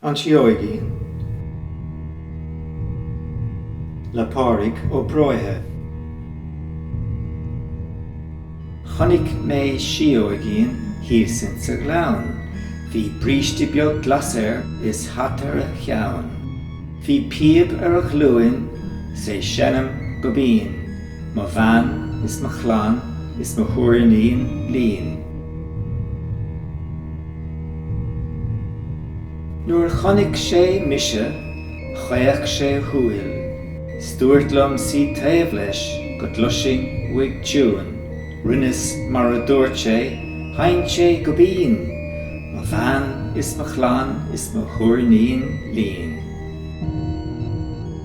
An Síóigín, le Pádraig Ó Bróithe. Chonaic mé síóigín thíos ins an ghleann. Bhí bríste beag glas air is hata ar a cheann. Bhí píob ar a ghlúin 's é seinm go binn. Mo bhean is mo chlann is mo thúirnín lín. Nuair a chonnaic sé mise chaoch sé a shúil 's dúirt liom suí taobh leis go gcloisfinn uaidh tiúin. Rinneas mar a dúirt sé, sheinn sé go binn, Mo bhean is mo chlann is mo thúirnín lín.